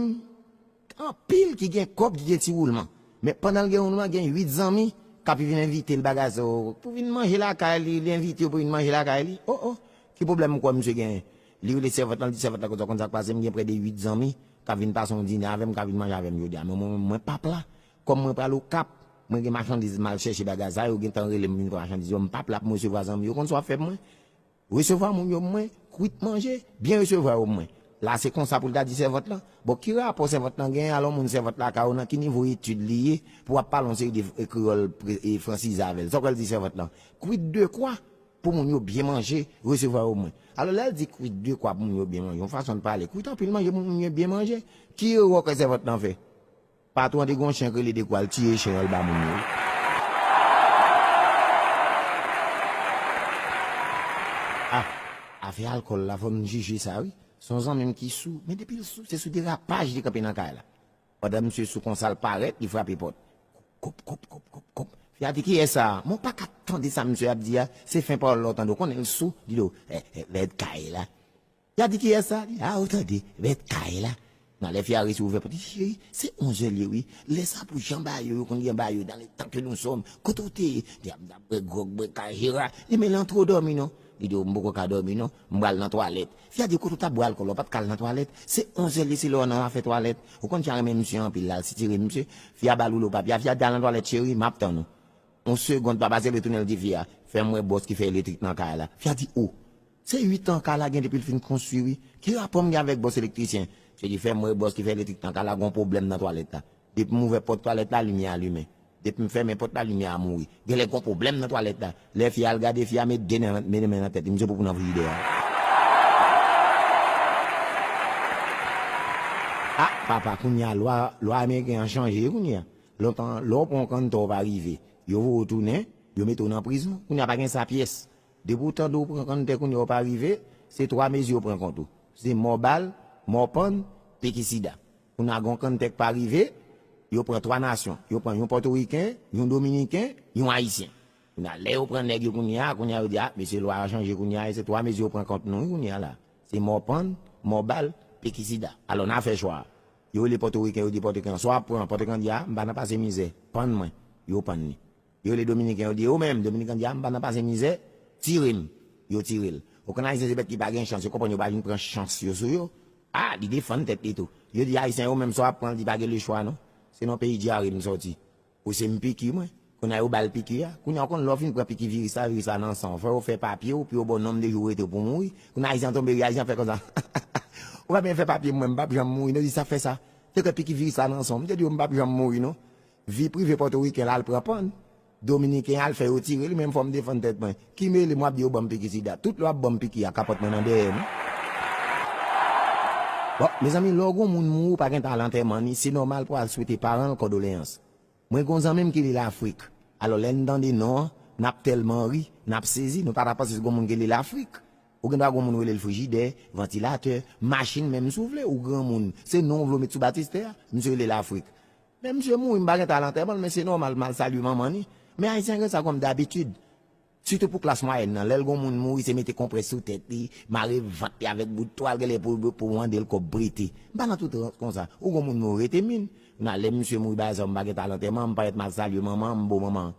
Anpil ki gen kòb ki gen ti woulman. Men pandan l gen woulman gen 8 zanmi k ap vin envite l bagay sa yo pou vin manje lakay li, li envite yo pou vin manje lakay li. O o! Ki pwoblèm ou kwè misye genyen? Li rele sèvant lan, li di sèvant lan kote w konn sa k pase, m gen prè de 8 zanmi k ap vin pase yon dine avè m, k ap vin manje avè m jodi a. Men mwen menm mwen p ap la. Kòm mwen pral Okap, mwen gen machandiz m al chèche bagay sa yo, yo gen tan rele m vin pran machandiz yo, m p ap la pou m resevwa zanmi yo. Ou konn sa w ap fè pou mwen? Resevwa moun yo mwen, kwit manje, byen resevwa yo mwen. La se konsa pou l ta di sèvant lan, bon ki rapò sèvant lan genyen alon moun sèvant lakay ou nan ki nivo etid li ye pou wap pale yon seri de kreyòl fransize avè l sa w kwè l di sèvant lan, kwit de kwa pou moun yo byen manje, resevwa yo mwen. Alò lè l di kwit de kwa pou moun yo byen manje yon fason l pale kwit anpil manje pou moun yo byen manje, ki erè w kwè sèvant lan fè? Patron an te gen yon chen k rele dekwa l tiye chen an l ba moun yo wi. Ah afè alkòl la fò n jije sa wi son zanmi m ki sou men depi l sou se sou derapaj li kanpe nan kay la pandan misye sou konsa l parèt li frape pòt kop kop kop kop kop fi a di kiyès sa a mwen paka tande sa misye ap di a se fen pawòl la w tande w konnen l sou li di w eh eh lèd kay la Ya di kiyès sa li la ou tande mèt kay la nan lè fia resi ouvè pòt li di cheri se onzè li ye wi lè sa pou jan ba yo yo konn jan ba yo dan le tan ke nou sòm kote ou te ye di a m tap bwè gròg bwè kay jera di men lan twò dòmi non li di w m poko ka dòmi non m pral nan twalèt fia di kote ou tap bwè alkòl la ou pat ka al nan twalèt se onzè li ye se lè w nan afè twalèt ou konn fia renmen misye anpil la al sitire misye fia ba l woulo papye a fia di al nan twalèt cheri map tann ou yon segond pa pase li tounen li di fia fè m wè bòs ki fè elektrik nan kay la fia di oh Se 8 ans Carla gen depil fin konstwi wi. Ki rapò m gen avèk bòs elektrisyen? Msye di fèm wè bòs ki fè elektrik nan Carla gon pwoblèm nan twalèt la. Depi m ouvè pòt twalèt la limyè a limen. Depi m fèmen pòt la limyè a mouri. Genlè gon pwoblèm nan twalèt la. Lè fi a al gade fi a met 2 men nan tèt li. Msye poupou nan frijidè a. A papa kounye a lwa lwa ameriken an chanje kounye a. Lontan lè w pran yon kanntò w pa rive. Yo voye w tounen. Yo mete w nan prizon. Kounye a pa gen sa pyès. Depi w tande w pran kanntè kounye a w pa rive, se 3 mezi yo pran kont ou. Se mò bal, mò pann, piki sida. Kounye a gen yon kanntè k pa rive, yo pran 3 nasyon. Yo pran yon pòtoriken, yon dominiken, yon ayisyen. Kounye a lè yo pran nèg yo kounye a, kounye a yo di a, mesye lwa a chanje kounye a e se 3 mezi yo pran kont nou wi kounye a la. Se mò pann, mò bal, piki sida. Alò n a fè chwa a. Yo rele pòtoriken yo di pòtoriken an swa w ap pran, pòtoriken an di a m pa nan pase mizè, pann mwen. Yo pann li. Yo rele dominiken yo di yo menm dominican di a m pa nan pase mizè tire m yo tire l ou konn ayisyen se bèt ki pa gen chans yo konprann yo pa vin pran chans yo sou yo a li defann tèt li tou yo di ayisyen yo menm sa w ap pran l di pa gen lechwa non se nan peyi dyare m sòti ou se m piki mwen kounye a yo ba l piki a kounye a ou konn lè w fin pran piki viris la viris la nan san w fò yo fè papye w pou yo ba w nonm de jou w rete w pou w mouri kounye a ayisyen an tonbe ri ayisyen an fè konsa hahahaa ou pa byen fè papye m mwen m p ap janm mouri non li sa fè sa te kwè piki viris la nan san w m te di w m p ap janm mouri non. Vi prive pòtoriken la al pran pann. Dominiken al fè yo tire li men m fò m defann tèt mwen. Ki mele m wap di yo banm piki sida. Tout lè wap banm piki a kapòt mwen nan dèyè m wi. Bon mezanmi lè w gon moun mouri w pa gentan al antèman ni se nòmal pou al swete paran l kòdoleyans. Mwen gon zanmi m ki li Lafrik. Alò lè n tande non an nap tèlman ri, nap sezi nou pata panse se gon moun ki li Lafrik. Ou gendwa gon moun ou rele l frijidè, vantilatè, machin menm si w vle ou granmoun se non w vle w met sou batistè a. Misye rele Lafrik. Men misye mouri m pa gentan al antèman l men se nòmal m al salye manman li men ayisyen gen sa kòm dabitid sitou pou klas mwayèn nan lè l gen yon moun mouri se mete konprès sou tèt li mare vant li avèk bout twal genlè pou mande l kòb prete m pa nan tout rans konsa ou gen yon moun mouri rete min nan lè misye mouri bagay sa yo m pa gentan al antèman m pètèt m al salye manman m bon manman an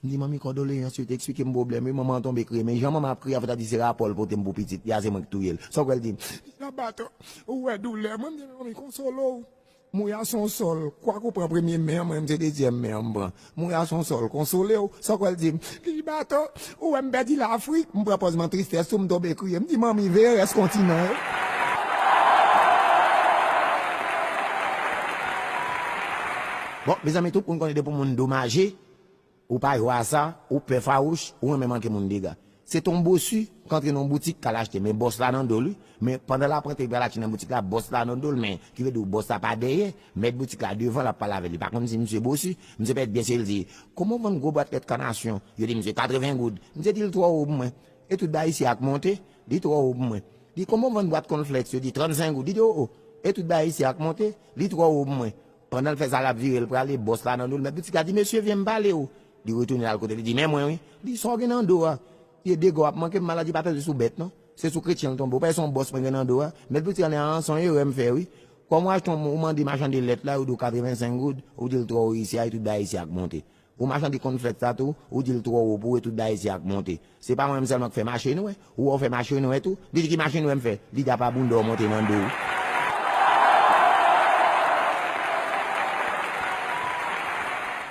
m di manmi kòdoleyans yo te eksplike m pwoblèm li manman an tonbe kriye men jan manman an ap kriye a fò ta di se rapò l pote m pou pitit li a se mwen ki touye l sa w kwè l di m. Li nan batò ou wè doulè mwen m di manmi konsole w Mouya son sol, kwak ou pran premye men an mwen menm se dezyèm men an m pran. Mouya son sol, konsole w, sòk wè l di m, Lili Bato, ou wè m pèdi Lafrik, m pran pòz man tristès tou m tonbe kriye, m di manmi veye rès kontinan yo. Bon, mezanmi tout moun konnen depi w moun domaje. Ou pa jwe a sa, ou pè fawouch, ou renmen manke moun dega. Se ton Bossu k antre nan yon boutik k al achte men bòs la nan do li, men pandan l ap antre li pral achte nan boutik la bòs la nan do l men ki vle di w bòs la pa dèyè, mèt boutik la devan l ap pale avè li pa konn si msye Bossu, msye pèt byen se l di, Kòman w vann gwo bwat lèt kanasyon? Yo di msye, 80 goud. Msye di l twò wo pou mwen. E tout bagay isi ak monte, li twò wo pou mwen. Li, Kòman w vann bwat kònflèks? Yo di, 35 goud. Li di, O o! E tout bagay isi ak monte, li twò wo pou mwen. Pandan l fè sa l ap vire l prale, bòs la nan do l. Mèt boutik la di, Mesye, vyen m pale ou. Li retounen l al kote l, li di, Men mwen wi. Li di, Sa w gen nan do a? Pye dega w ap manke m maladi pa tonbe sou bèt non. Se sou kretyen l tonbe. Ou pa wè se yon bòs mwen gen nan do a? Mèt boutik la di, An, se yon erè m fè wi. Kòm w achte yon, ou mande machann de lèt la, ou di w 85 goud, ou di l twò ou reyisi a e tout bagay isi a k monte. Ou machan te konn fèt sa tou, ou dil twò wo pou we tout bagay isi a k monte. Se pa mwen menm sèlman k fè mache nwè, ou wè w fè mache nwè tou? Li di ki mache nwè m fè? Li di apa bounda w monte nan do w.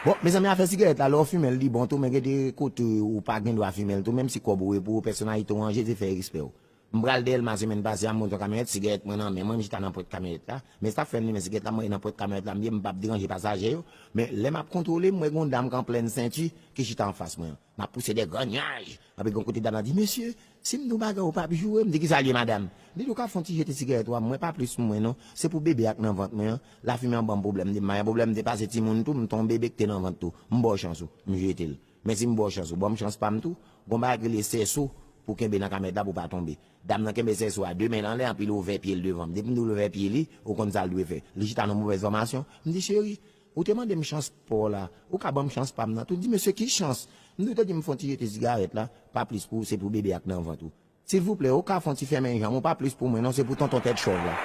Bon mezanmi afè sigarèt la lè w fimen l li bon tou men gen de kote ou pa gen dwa fimen l tou menm si kòb ou e pou ou pèsonalite w an je ze fè respè w. M pral Dèlma semèn pase a m monte yon kamyonèt sigarèt mwen nan men mwen m chita nan pwent kamyonèt la men sa fèm limen sigarèt la m mete nan pwent kamyonèt la m ye m pap deranje pasaje yo men lè map kontwole m wè gon dam k an plèn senti ki chita anfas mwen an map pouse de gran nyaj anpi gon kote dam nan di mesye sim di w bagay ou pap joure m di kisa l ye madam li di ou ka fon ti jete sigarèt ou a m wè pa plis m wè non se pou bebe a k nan vant mwen an lafimen an banm pwoblèm m di m pa gen pwoblèm m te pase timoun tou m t on bebe k te nan vant tou m ba w chans ou m jete l Men si m ba w chans, ou ban m chans pa m tou. Gon bagay ki rele sèso pou kenbe nan kamèt la pou w pa tonbe. Dam nan kenbe sèso a 2 men l anlè anpi l ouvè pye l devan m. Depi m di w l ouvè pye li, ou konn sa l dwe fè. Li chita nan movèz fòmasyon. M di, Cheri, ou te mande m chans pa w la. Ou ka ban m chans pa m nan tou. L di, Mesye, ki chans? M di, Ou te di m fè yon ti jete sigarèt la, pa plis pou se pou bebe a k nan vant ou. Silvouplè ou ka fon ti fèmen janm ou pa plis pou mwen non se pou tonton tèt chòv la.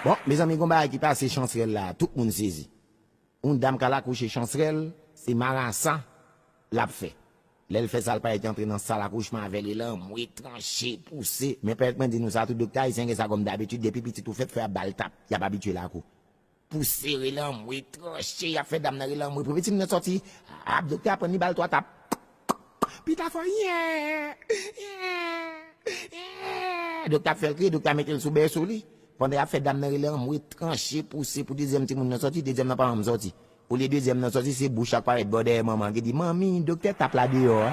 Bon mezanmi gon bagay ki pase chansrèl la tout moun sezi yon dam kal akouche chansrèl se marasa lap fè lèl fè sa l payèt antre nan sal akouchman avèl li lanmwe tranche pouse men pèt mwen di nou sa tout doktè ayisyen gen sa kòm dabitid depi pitit ou fèt fò yap bal tap yap abitye lakou Pou sere lanmwe tranche yap fè dam nan rele anmwe pou pitit mwen sòti ap doktè a prann li bal 3 tap pita fò eeeeh eeeeh eeeeh doktè ap fèl kriye doktè a metel sou bèso li pandan yap fè dam nan rele anmwe tranche pouse pou dezyèm timoun nan sòti dezyèm nan pa janm sòti olye dezyèm nan sòti se bouch la k parèt bò dèyè manman an ki di manmi doktè tap la deyò a.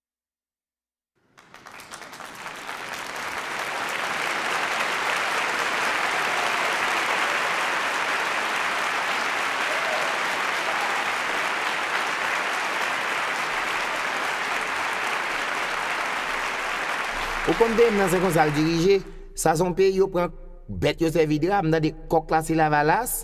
Ou konn peyim nan se konsal dirije, sa son peyi yo pran bèt yo sèvi drap, m tande kòk la se lavalas.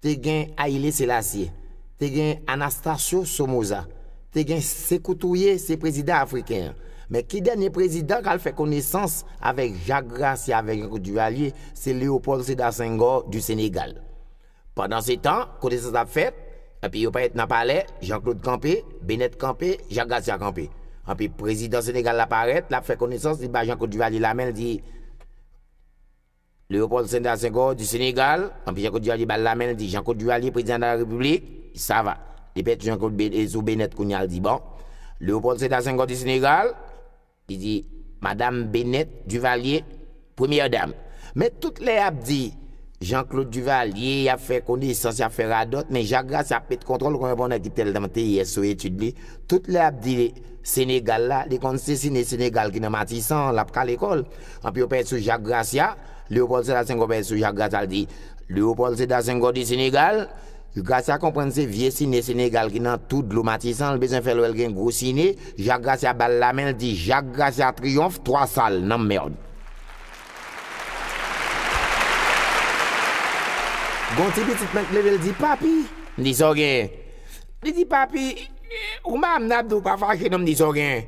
te gen Haïlé Sélassié, te gen Anastasio Somoza, te gen Sékou Touré se prezidan afriken an. Men ki dènye prezidan k al fè konesans avèk Jacques Gracia avèk Jean-Claude Duvalier, se Léopold Sédar Senghor du Sénégal. Pandansetan, konesans ap fèt, epi yo parèt nan palè, Jean Claude kanpe, Benet kanpe, Jacques Gracia kanpe. Epi prezidan Sénégal la parèt, l ap fè konesans, li ba Jean-Claude Duvalier lamen, l di, Léopold Sédar Senghor du Sénégal, anpi Jean Claude Duvalier bal la menl di Jean Claude Duvalier prezidan dala repiblik, sa va. Li pèdi Jean Claude sou Benèt kounya l di bon. Léopold Sédar Senghor du Sénégal, li di madam Benèt Duvalier premyè dam. Men tout lè yap di Jean Claude Duvalier yap fè konesans yap fè radòt men Jacques Gracia ap met kontwòl konn repon nèg ki tèlman teyès sou etid li tout lè ap di Sénégal la li konn sesine Sénégal ki nan Matissan lap kale kòl. Anpi yo pèt sou Jak Grasya, Lewopòl Seda Senghò pèt sou Jak Grasya l di, Lewopòl Seda Senghò di Senegal, Grasya konprann se vye sine Senegal ki nan tou dlo Matisan, l bezwen fè l wè l gen gwo sine, Jak Grasya ba l lamen, l di, Jak Grasya triyonf, twa sal, nanm mèrd. Gen yon ti pitit mwen k leve l di, Papi! M di, Sa w genyen? Li di, Papi, ou mare m nan, ap di w pa fache non, m di, Sa w genyen?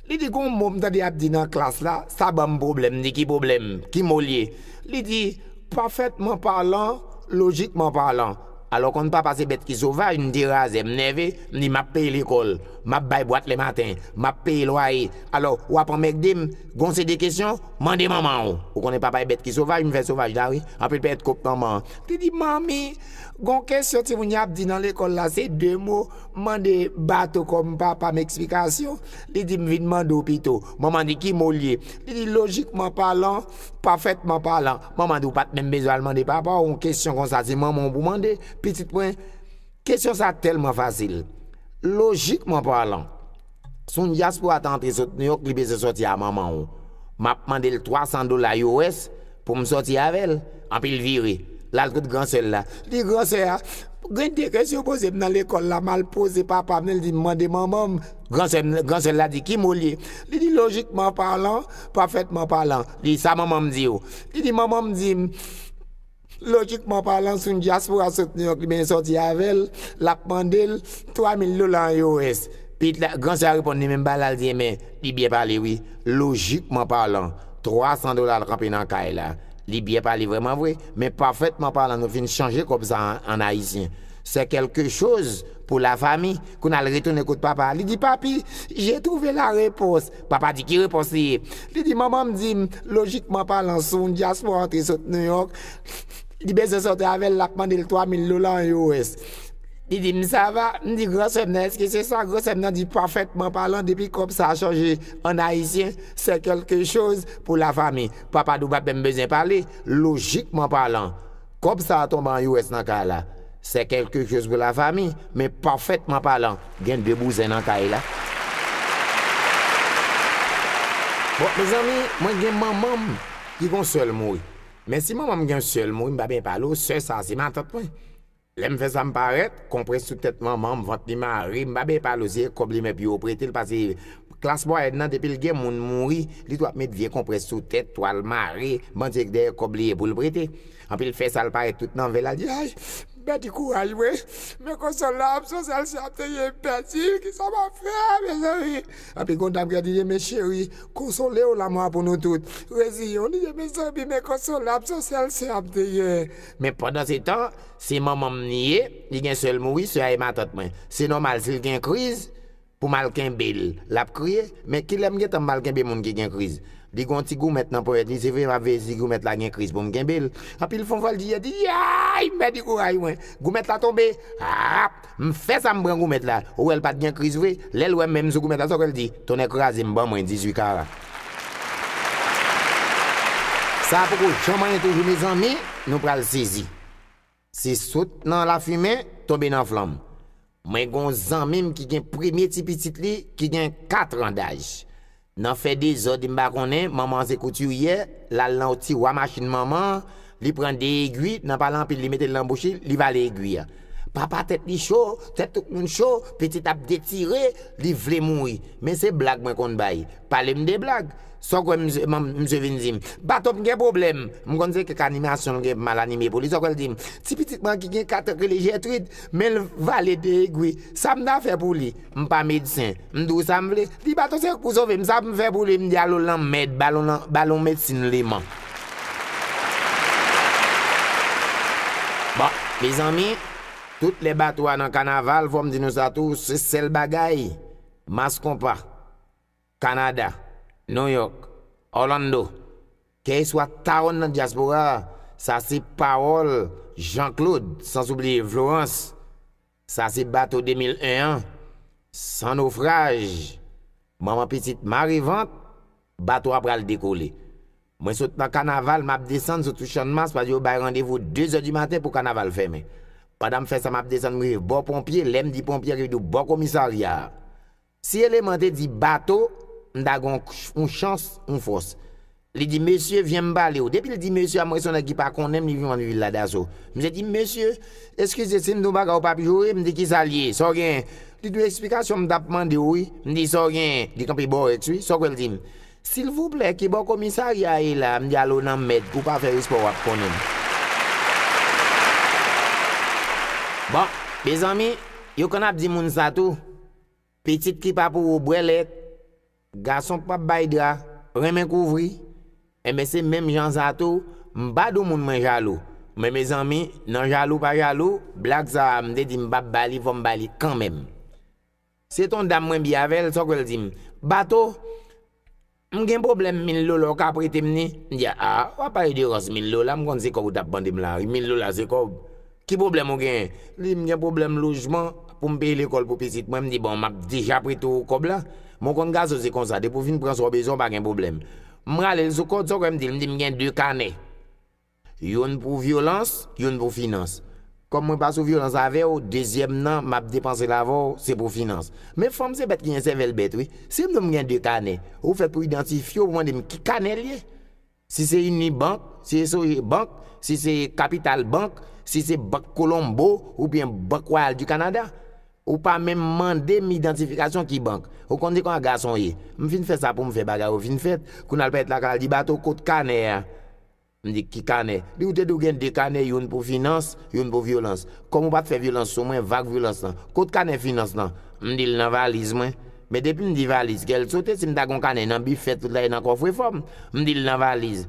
Li di gon mo m tande y ap di nan klas la, sa ban m pwoblèm. M di ki pwoblèm? Ki mo l ye? Li di, Parfaitement parlant, logiquement parlant. Alò konn papa se bèt ki sovaj, m derazè, m nève, m di m ap peye lekòl, m ap bay bwat lèmaten, m ap peye lwaye, alò w ap anmègde m, gon se de kesyon, mande manman w. Ou konnen papa e bèt ki sovaj, m fè sovaj la wi, anpil pèyèt kont manman an. Li di, Manmi, gon kesyon timoun y ap di nan lekòl la, se de mo. M mande Bato kòm papa m eksplikasyon, li di m vin mande w pito. Mwen mande ki mo l ye. Li di lojikman palan, pafètman palan. Mwen mande w pa t menm bezwen al mande papa w yon kesyon konsa, se manman w pou w mande. Pitit mwen, kesyon sa a tèlman fasil. Lojikman palan. Si yon dyaspora ta antre sot New York li bezwen sòti a manman w. M ap mande l 300 dola US pou m sòti avè l. Anpi l vire, l al kot gran sè l la. L di, Gran sè a, gen de kesyon yo poze m nan lekòl la, m al poze papa m, li di m mande manman m. Gran sè m, gran sè l la di, Ki mo l ye? Li di, Lojikman palan, pafètman palan. Li di, Sa manman m di w? Li di, Manman m di m. Lojikman palan, si yon dyaspora sot New York li benyen sòti avè l, l ap mande l 3 mil dola an US. Piyit la, gran sè a reponn li menm bagay la, l di enben, li byen pale wi. Lojikman palan, 300 dola al kanpe nan kay la. Li byen pale vrèman vre, men pafètman palan nou fin chanje kòb sa a an ayisyen. C'est quelque chose pour la famille. Kounye a l retounen kot papa a, li di papi, j'ai trouvé la réponse. Papa di ki repons li ye. Li di manman m di m, lojikman palan si yon dyaspora antre sot New York, li bezwen sòti avè l, l ap mande l 3 mil dola an US. Li di m sa va, m di gran sè m nan èske se sa, gran sè m nan di pafètman palan depi kòb sa a chanje an ayisyen sè kèlke choz pou la fami. Papa di w pa menm bezwen pale, lojikman palan. Kòb sa a tonbe an US nan ka la, sè kèlke choz pou la fami, men pafètman palan, gen de bouzen nan kay la. Bon, mezanmi, mwen gen manman m ki gon sè l mouri. Men si manman m gen yon sè l mouri, m pa benyen pale w, sè sa a se matant mwen. Lè m fè sa m parèt, konprès sou tèt manman m, vant li mare, m pa benyen pale w, se kòb li men pi yo prete l pase. Klas mwayèn nan depil gen moun mouri li dwa met vye konprès sou tèt, twal mare, bandye k dèyè kòb li ye poul prete. Anpil fè sal parèt tout nan vè l al di ay m pèdi kouraj mwen men konsòl la ap sòse al si ap te ye m pèdi l kisa map fè mezanmi. Anpil gon dam kap di li men cheri konsole w lamò a pou nou tout reziye w li di mezanmi men konsòl la ap sòse al se ap te ye men pandan se tan se manman m li ye li gen sè l mouri sè a e matant mwen se nòmal si l gen kriz Pou m al kenbe l. L ap kriye, Men kilè m gentan m pral kenbe moun ki gen kriz? Li gen yon ti goumèt nan ponyèt li, se vre m ap veye si goumèt la gen kriz pou m kenbe l. Anpi l fè yon vòltije, l di, Yayy! M pèdi kouraj mwen. Goumèt la tonbe. Rap! M fè sa m pran goumèt la. Ou wè l pa t gen kriz vre. Lè l wè men m sou goumèt la, sa w kwè l di? Tonnè kraze m, ban mwen 18 kara. Sa a poko janm anyen toujou mezanmi, nou pral sezi. Se sot nan lafimen tonbe nan flanm. Mwen gen yon zanmi m ki gen premye ti pitit li ki gen 4 ran daj. Nan fè dezòd m pa konnen, manman an se koutiryè, l al nan yon tiwa machin manman an, li pran 2 egui, nan pale anpil li mete l nan bouch li, li vale egui a. Papa tèt li cho, tèt tout moun cho, pitit ap detire, li vle mouri. Men se blag mwen konn bay. Pale m de blag. Sa w kwè misye vin di m? Baton m gen pwoblèm. M konn se kèk animasyon m gen mal anime pou li. Sa w kwè l di m? Ti pitit mwen an ki gen 4 an ki rele Jètrid, men l vale de egwi. Sa m ta fè pou li? M pa medsen. M di w sa m vle? Li baton se pou sove m. Sa m fè pou li? M di al w lanmèd. Ba l yon medsin leman. Bon, mezanmi, tout lè bato a nan kanaval, fò m di nou sa tou, se sèl bagay, mas konpa. Kanada, New York, Orlando, kèy swa tawonn nan dyaspora a, sa se pawòl Jean Claude, sanzoubliye Florans, sa se bato 2001 an, san nofraj, manman pitit mare vant, bato a pral dekole. Mwen sot nan kanaval m ap desann sou tou Channmas paske yo bay randevou dezè di maten pou kanaval fèmen. Pandan m fè sa m ap desann m rive bò ponpye, lè m di ponpye rive di w bò komisarya a. Si eleman te di bato, m ta gen yon chans, yon fòs. Li di mesye, vyen m pale w. Depi l di mesye a, m wè se yon nèg ki pa konnen m, li vin wè m li vin ladaso. Misye di m, mesye, eskize si m di yon bagay ou pa ap joure, m di kisa l ye, sa w genyen? Li di m esplikasyon m ta ap mande w wi. M di sa w genyen? Li kanpe bòrèks wi. Sa w kwè l di m? Silvouplè, ki bò komisarya a ye la a? M di ale w nan mèd, ou pa fè respè w ap konnen m. Bon, mezanmi, yo konn ap di moun sa tou. Pitit ki pa pou ou bwè lèt, gason k pap bay dra, renmen kouvri, enben se menm jan sa tou, m pa dou moun mwen jalou, men mezanmi nan jalou pa jalou, blag sa a m te di m pap ba li fò m ba li kanmenm. Se ton dam mwen bi avè l, sòkè l di m, Bato, M gen pwoblèm mil dola w ka prete m ni? M di a, a, w ap pale de rans mil dola, m konn se kòb ou t ap mande m la wi, mil dola se kòb. Ki pwoblèm ou genyen? Li di m gen pwoblèm lojman pou m peye lekòl pou pitit mwen, m di bon m ap deja prete w kòb la, men w konn gason se konsa depi w fin pran sa w bezwen w pa gen pwoblèm. M rale l sou kòd sa w kwè m di l, m di m gen 2 kanè. Youn pou vyolans, youn pou finans. Kòm mwen pa sou vyolans avè w, dezyèm nan, m ap depanse l avè w, se pou finans. Men fanm se bèt ki gen sèvèl bèt wi. Si m di w m gen de kanè, ou fèt pou idantifye, ou mande m ki kanè l ye. Si se Unibank, si se Sogebank, si se Capital Bank, si se Bank Colombo oubyen Bank Royale du Canada. Ou pa menm mande m idantifikasyon ki bank. Ou konn se konsa gason ye. M fin fè sa pou m fè bagay yo fin fèt. Kou n al pale t lakay la, l di Bato kot kanè a? M di, Ki kanè? Li, Ou te di ou gen de kanè, youn pou finans, youn pou vyolans. Kòm ou pa t fè vyolans sou mwen, vag vyolans lan. Kot kanè finans lan? M di l, Nan valiz mwen. Men depi m di valiz, kè l sote. Si m ta gen yon kanè nan bifè tout la e nan kòfrefò m. M di l, Nan valiz.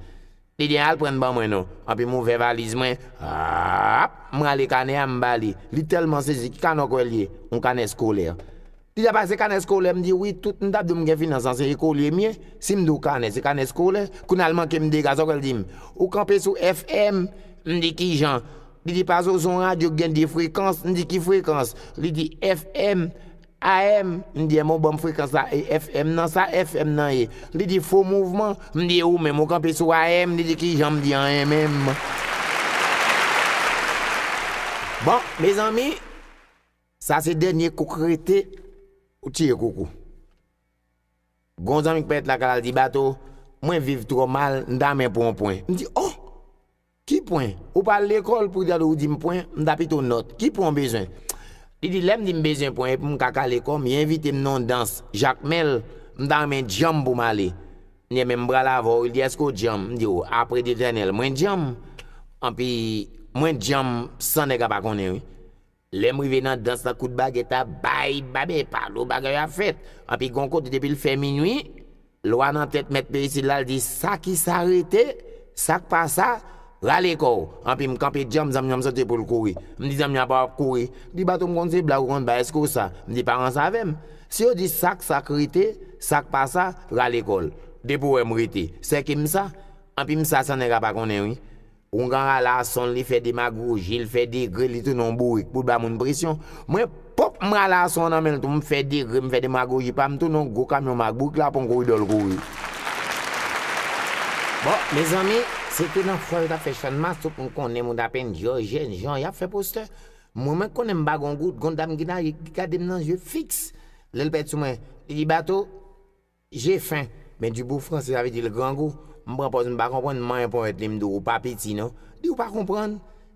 Li di, Al pran l ban mwen non. Anpi m ouvè valiz mwen. Aap! M rale kanè a, m ba li. Li tèlman sezi, Ki kanè w kwè l ye? Yon kanè skolè. Pita pale se kanè skolè m di wi tout m ta di w m gen finans lan se ekolye m ye si m di w kanè se kanè skolè kounya l manke m dega sa w kwè l di m ou kanpe sou FM m di kijan li di pa zo se yon radyo ki gen 2 frekans m di ki frekans li di FM AM m di ebyen w ban m frekans la e FM nan sa FM nan ye li di fo mouvman m di e ou menm ou kanpe sou AM li di kijan m di anyen menm bon mezanmi. Sa se dènye kouk rete ou tiye kouk ou. Gen yon zanmi k pèt lakay la l di, Bato, mwen viv twò mal, m ta renmen pran yon pwen. M di, Oh! Ki pwen? Ou pa al lekòl pou tande ou di m pwen? M ta pito nòt. Ki pwen ou bezwen? Li di, Lè m di m bezwen pwen e pou m ka kale kò m, yo envite m nan yon dans Jakmèl, m ta renmen djanm pou m ale. M di, Enben, m pral avè w. Li di, Èske ou djanm? M di, O, apre Dyetènèl, mwen djanm! Anpi, mwen djanm san nèg a pa konnen wi. Lèm rive nan dans lan kout bagè ta bay babe palo bagay yo ap fèt anpi gon kote depil fè minwi lwa nan tèt mèt peyi sila l di sa kisa rete sak pa sa rale kòw anpi m kanpe djanm zanmi an m sote poul kouri m di zanmi an apa wap kouri m di bato m konn se blag ou konn bay eske ou sa m di pa ranse avèm si yo di sak sak rete sak pa sa rale kòl depi ou wèm rete sèke m sa anpi m sa san nèg a pa konnen wi Oungan rala ason li fè demagoji li fè degre li tounen yon bourik poul ba moun presyon mwen pop m rale ason nan menl tou m fè degre m fè demagoji pam m tounen yon gwo kamyon m ak bourik la pran koridòl kouri. Bon mezanmi se te nan fwa yo tap fè channmas tout moun konnen moun apenn dyò jèn jan yap fè postè mwen mwen konnen m pa gon gout gon dam ki nage ki gadem nan zye fiks lèl pèdi sou mwen li di bato Je fin, men du bout franse sa vle di l grangou. M pran pòz m pa konprann, manyen ponyèt li m di w ou pa piti non. Di ou pa konprann?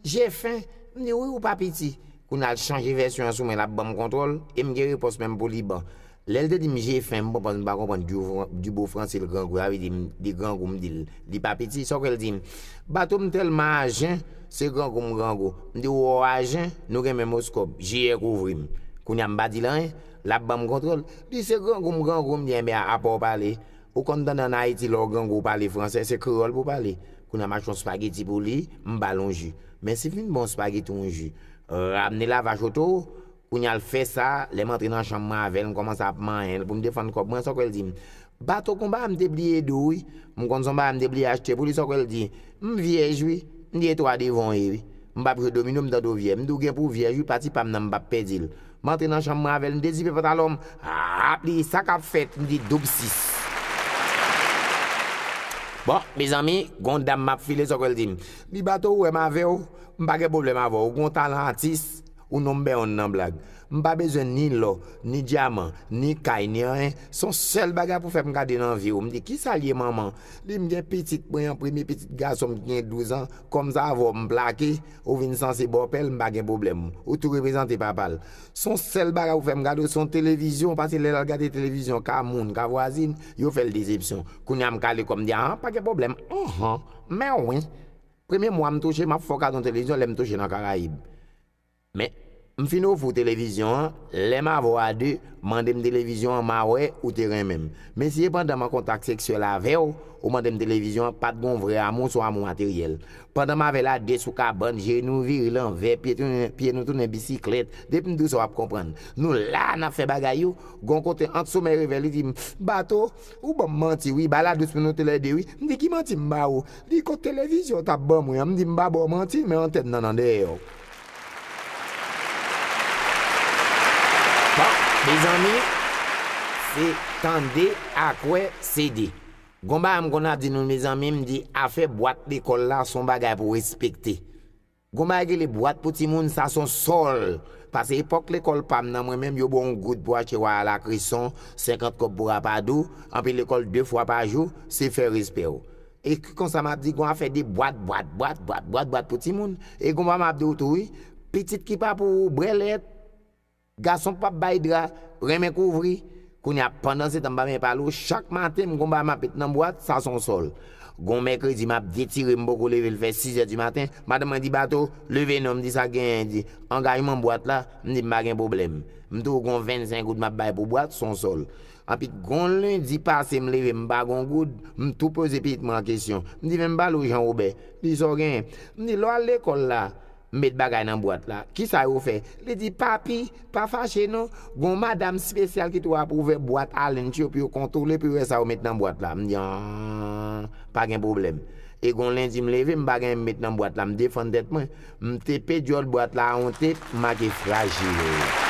Je fin, m di wi ou pa piti. Kounya l chanje vèsyon an sou mwen l ap ban m kontwòl e m gen repons men m pou li ban. Lè l te di m je fin, m pran pòz m pa konprann du bout franse l grangou sa vle di m li grangou m di l li pa piti sa w kwè l di m? Bato m tèlman ajen, se grangou m grangou. M di w ou ajen, nou gen menm oskòp. Jiyè kouvri m. Kounya m pa di l anyen. Lap banm kontrol. Li se grangou m grangou m byen byen apaw pale ou konn tande an ayiti lèw grangou ou pale fransè se kreyòl pou pale kounya mache yon spageti pou li m bal yon ju men si fin baw spageti yon ju ramne lavache oto kounya l fè sa lèm antre nan chanm mwen avèl m kòmanse ap manyenl poum defann kòb mwen sa kwè l di m bato konba a m te bliye ede w wi m konn son bagay m te bliye achte pou li sa kwè l di m vyèj wi m di etwa devan w ye wi m pap jwe domino m tande w vyèj m di w gen pou w vyèj wi pati pam nan m pap pèdi l M antre nan chanm mwen avè l, m dezipe pantalon m, ap li di, Sa k ap fèt? M di, Doub sis. Bon, mezanmi, gen yon dam m ap file, sòke l di m. Li bato ou wè m avè w, m pa gen pwoblèm avè w, ou gen yon talan atis, ou number one nan blag. M pa bezwen ni lò, ni dyaman, ni kay, ni anyen, s on sèl bagay pou fè m gade nan vi w. M di, Ki sa l ye manman? Li di, M gen pitit mwen an, premye pitit gason m ki gen douzan, kòm sa avè w m plake. Ou vin sanse bòpè l m pa gen pwoblèm. Ou tou reprezante papa l. S on sèl bagay ou fè m gade w s on televizyon pase lè l al gade televizyon ka moun, ka vwazin, yo fè l desepsyon. Kounye a m kale kò m di ahan pa gen pwoblèm anhan men wi premye mwa m touche m ap fè w kado yon televizyon lè m touche nan Karayib men M fin ofri w televizyon an, lè m avè w a de, mande m televizyon an, ma wè ou te renmen m. Men si e pandan m an kontak seksyèl avè w, ou mande m televizyon an, pa t gon vrè amou, son amou materyèl. Pandan m avè l a de sou kabann, je nou vire lanvè, pye nou tounen bisiklèt, depi m di w sa w ap konprann. Nou la a n ap fè bagay yo, gon kote ant somèy e revè li di m, Bato, ou ban m manti wi, ba ladous pou nou toulède wi. M di ki manti m ba ou? Li kot televizyon w t ap ban mwen an? M di m pa ba w manti, men antèn nan nan dèyè w. Bon mezanmi se tande ak wè se 2. Gon bagay m konn ap di nou mezanmi m di afè bwat lekòl la son bagay pou respekte. Gon bagay ki rele bwat pou timoun sa son sòl. Pase epòk lekòl pa m nan mwen menm yo ba w yon goud pou achte waya lakreson, 50 kòb pou rapadou, anpi lekòl 2 fwa pa jou se fè respè w. E ki konsa m ap di gon afè de bwat bwat bwat bwat bwat bwat pou timoun. E gon pa m ap di w tou wi, pitit ki pa pou ou brè lèt, gason k p ap bay dra, renmen kouvri. Kounye a, pandansetan m pa men pale w, chak maten m gon bagay m ap met nan bwat, sa se yon sòl. Gon mèkredi m ap detire m poko leve l fè sizè di maten, madanm mwen di Bato, leve non, m di sa genyen, li di angajman bwat la, m di m pa gen pwoblèm. M di w gon vennsenk goud m ap bay pou bwat, se yon sòl. Anpi gon lendi pase m leve m pa gon goud, m tou poze pitit mwen an kesyon. M di men m ba l ou Jan Wobè. Li di sa w genyen? M di lè w al lekòl la, m met bagay nan bwat la, kisa yo fè? Li di papi, pa fache non, gon madam spesyal ki tou ap ouvè bwat a lunch yo pou yo kontwole pou yo wè sa yo met nan bwat la. M di an, pa gen pwoblèm. E gon lendi m leve m pa gen anyen m met nan bwat la, m defann tèt mwen. M tepe dyòl bwat la on tep m make frajil.